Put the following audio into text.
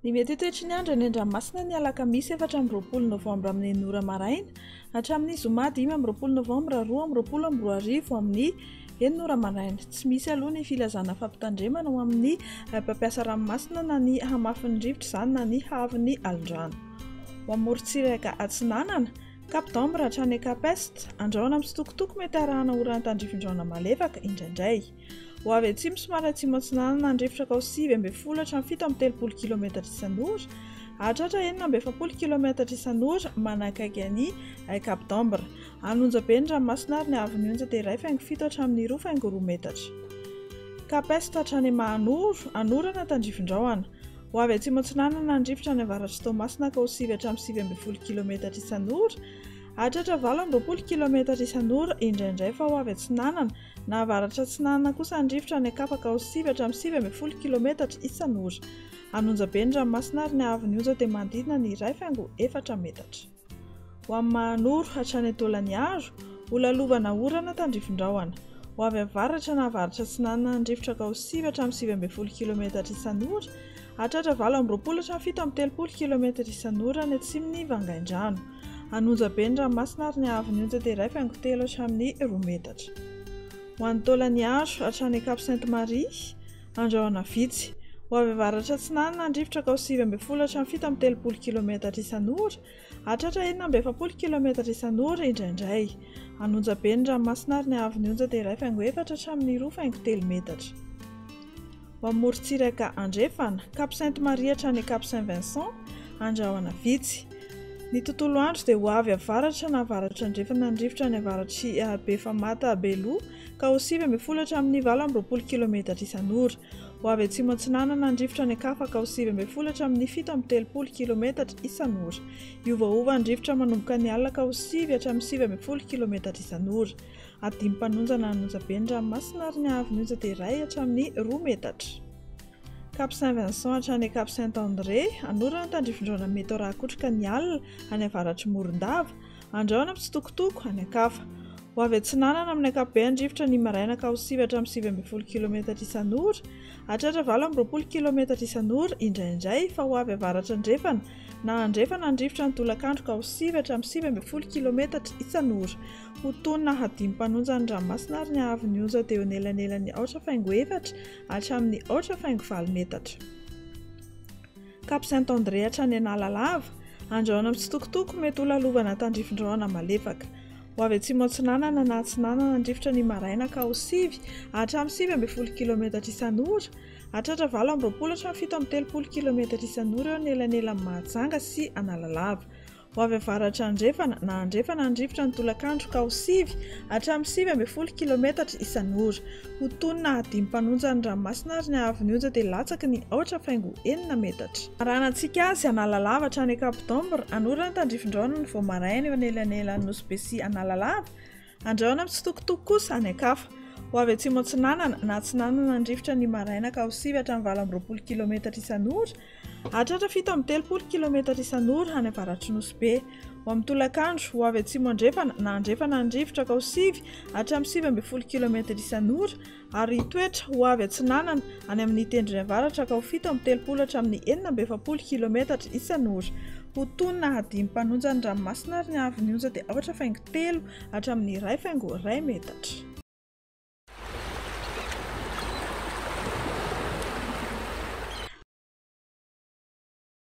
Ny mety ho toetry ny andro any an-dranomasina ny alakamisy efatra amby roapolo novambra amin'ny enina ora maraina hatramin'ny zoma dimy amby roapolo novambra roa amby roapolo amby roa arivo amin'ny enina ora maraina. Tsy misy aloha ny filazana fampitandremana ho amin'ny eh, mpampiasa ranomasina na ny hamafin'ny rivotra izany na ny haavon'ny alondrano. Ho amorontsiraka atsinanana, Cap d'Ambre hatrany Cap Est, andrahona mitsitokotoko mety arahana oran'ny tandrifindraona malefaka indraindray. Ho avy atsimo somary atsimo-atsinanana ny rivotra kao sivy ambin'ny folo hatramin'ny fito amby telopolo kilometatra isan'ora, hahatratra enina amby efapolo kilometatra isan'ora manakaiky an'i Cap d'Ambre. Any Onjabe ny ranomasina ary ny haavon'ny onja dia iray faingo fito hatramin'ny roa faingo roa metatra. Cap Est hatrany Mahanoro, anorana tandrifindraona. Ho avy atsimo-atsinanana ny rivotra any avaratr'i Toamasina ka ho sivy hatramin'ny sivy ambin'ny folo kilaometatra isan'ora hahatratra valo amby roapolo kilaometatra isan'ora indraindray fa ho avy atsinanana na avaratra-atsinanana kosa ny rivotra any Ankapa ka ho sivy hatramin'ny sivy ambin'ny folo kilaometatra isan'ora. Hanonja be ny ranomasina ary ny haavon'ny onja dia manodidina ny iray faingo efatra metatra. Ho amin'ny Mahanoro hatrany Antolaniaro, ho lalovana orana tandrifindrahona. Ho avy avaratra na avaratra atsinanana ny rivotra ka ho sivy hatramin'ny sivy ambin'ny folo kilometatra isan'ora, hatratra valo amby roapolo hatramin'ny fito amby telopolo kilometatra isan'ora any atsimon'ny vangaindrano. Hanonja be ny ranomasina ary ny haavon'ny ontsa dia iray faingo telo hatramin'ny roa metatra. Ho any Tolaniaro, hatrany Cap Sainte Marie, Andrahona vitsy. Ho avy avaratra atsinanana ny rivotra ka ho sivy ambin'ny folo hatramin'ny fito amby telopolo kilometatra isan'ora, hahatratra enina amby efapolo kilometatra isan'ora, indraindray. Hanonja be ny ranomasina ary ny haavon'ny onja dia iray faingo efatra hatramin'ny roa faingo telo metatra. Ho amin'ny morontsiraka andrefana, Cap Sainte Marie hatrany Cap Saint Vincent, andrahona vitsy. Ny tontolo andro dia ho avy avaratra na avaratra andrefana ny rivotra any avaratry Befamata, Beloha, ka ho sivy ambin'ny folo hatramin'ny valo amby roapolo kilometatra isan'ora. Ho avy atsimo-atsinanana ny rivotra any an-kafa ka ho sivy ambin'ny folo hatramin'ny fito amby telopolo kilometatra isan'ora. Hiovaova ny rivotra manomboka ny alina ka ho sivy hatramin'ny sivy ambin'ny folo kilometatra isan'ora. Adim-panonja na anonjabe ny ranomasina ary ny haavon'ny onja dia iray hatramin'ny roa metatra. Cap Saint Vincent hatrany Cap Saint André, an'orana ny tandrifin-drahona mety ho rakotroka ny alina any avaratr'i Morondava, Andrahona mitsitokotoko, an'Ankafa. Ho avy atsinanana amin'ny ankapobean'ny rivotra ny maraina ka ho sivy hatramin'ny sivy ambin'ny folo kilometatra isan'ora, hahatratra valo amby roapolo kilometatra isan'ora, indraindray, fa ho avy avaratra andrefana na andrefana ny rivotra ny tolakandro ka ho sivy hatramin'ny sivy ambin'ny folo kilometatra isan'ora. Ho tonina hadim-panonja ny ranomasina ary ny haavon'ny onja dia eo anelanelan'ny aotra faingo efatra hatramin'ny aotra faingo valo metatra. Cap Saint André hatrany Analalava, andrahona mitsitokotoko, mety ho lalovana tandrifindrahona malefaka. Ho avy atsimo atsinanana na atsinanana ny rivotra ny maraina ka ho sivy hatramin'ny sivy ambin'ny folo kilometatra isan'ora, hahatratra valo amby roapolo hatramin'ny fito amby telopolo kilometatra isan'ora eo anelanelan'i Mahajanga sy Analalava. Ho avy avaratra andrefana na andrefana ny rivotra ny tolakandro ka ho sivy hatramin'ny sivy ambin'ny folo kilaometatra isan'ora. Ho toy ny nahadimy mpanonja ny ranomasina ary ny haavon'ny onja dia latsaky ny aotra faingo enina metatra. Arahanantsika azy Analalava hatrany Cap d'Ombre, hanorina ny tandrifindraonany vao maraina eo anelanelan'ny Nosy Be sy Analalava, Andrahona mitsitokotoko kosa any an-kafa. Ho avy atsimo atsinanana na atsinanana ny rivotra ny maraina ka ho sivy hatramin'ny valo amby roapolo kilometatra isan'ora, hahatratra fito amby telopolo kilometatra isan'ora any avaratry Nosy Be. Ho amin'ny tolakandro, ho avy atsimo andrefana na andrefana ny rivotra ka ho sivy hatramin'ny sivy ambin'ny folo kilometatra isan'ora, ary hitoetra ho avy atsinanana any amin' ny tendrony avaratra ka ho fito amby telopolo hatramin'ny enina amby efapolo kilometatra isan' ora. Ho toy ny nahadimy mpanonja ny ranomasina ary ny haavon' ny onja dia aotra faingo telo hatramin' ny iray faingo iray metatra.